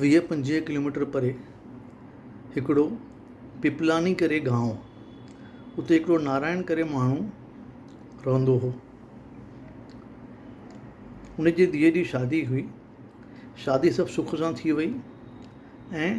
ويهه پنجويهه ڪلوميٽر پري هڪڙو پيپلاني ڪري گانو اتي هڪڙو نارائڻ ڪري ماڻهو رهندو هو ان جي ڌيئي جي شادي هئي شادي سڀ سک سان ٿي وئي ۽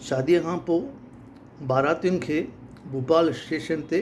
شادي کان پوء باراتين کي ڀوپال اسٽيشن تي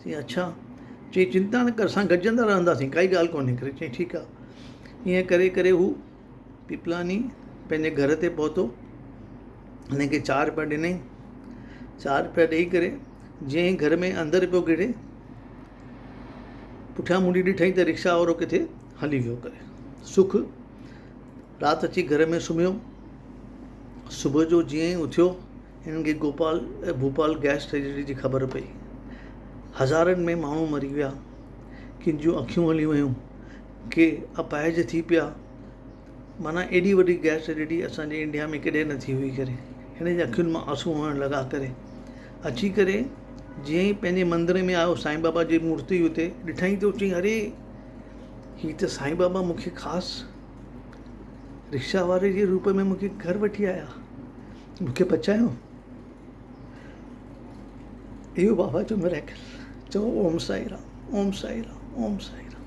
چيائين اڇا! چيائين چنتا نه ڪر اسان گڏجندا رهنداسين ڪائي ڳالهه ڪونهي ڪري چيائين ٺيڪ آ ائين ڪري ڪري هو پيپلاڻي پنهنجي گهر تي پهتو هن کي چاهه رپيا ڏنائين چاهه رپيا ڏئي ڪري جئين هي گهر ۾ اندر پيو گهڙي پٺيان منهن ڏٺائين ته رڪشا وارو ڪٿي هلي ويو ڪري سک رات اچي گهر ۾ سمهيو صبح جو جئين اٿيو هنن کي گوپال ۽ ڀوپال گئس ٽريجڊي جي خبر پئي. هزارن ۾ ماڻهو مري ويا، ڪن جون اکيون هلي ويون، ڪي اپاهج ٿي پيا، معنيٰ ايڏي وڏي گئس ٽريجڊي اسان جي انڊيا ۾ ڪڏهن نه ٿي هئي ڪري. هن جي اکين مان آنسو وهڻ لڳا ڪري. اچي ڪري جيئن ئي پنهنجي مندر ۾ آيو سائين بابا جي مورتي اتي ڏٺائين ته چيائين اري هي ته سائين بابا مون کي خاص رڪشا واري جي روپ ۾ مون کي گهر وٺي آيا. مون کي بچايو اهو بابا جو ميريڪل چئو اوم سائي رام اوم سائي رام اوم سائي رام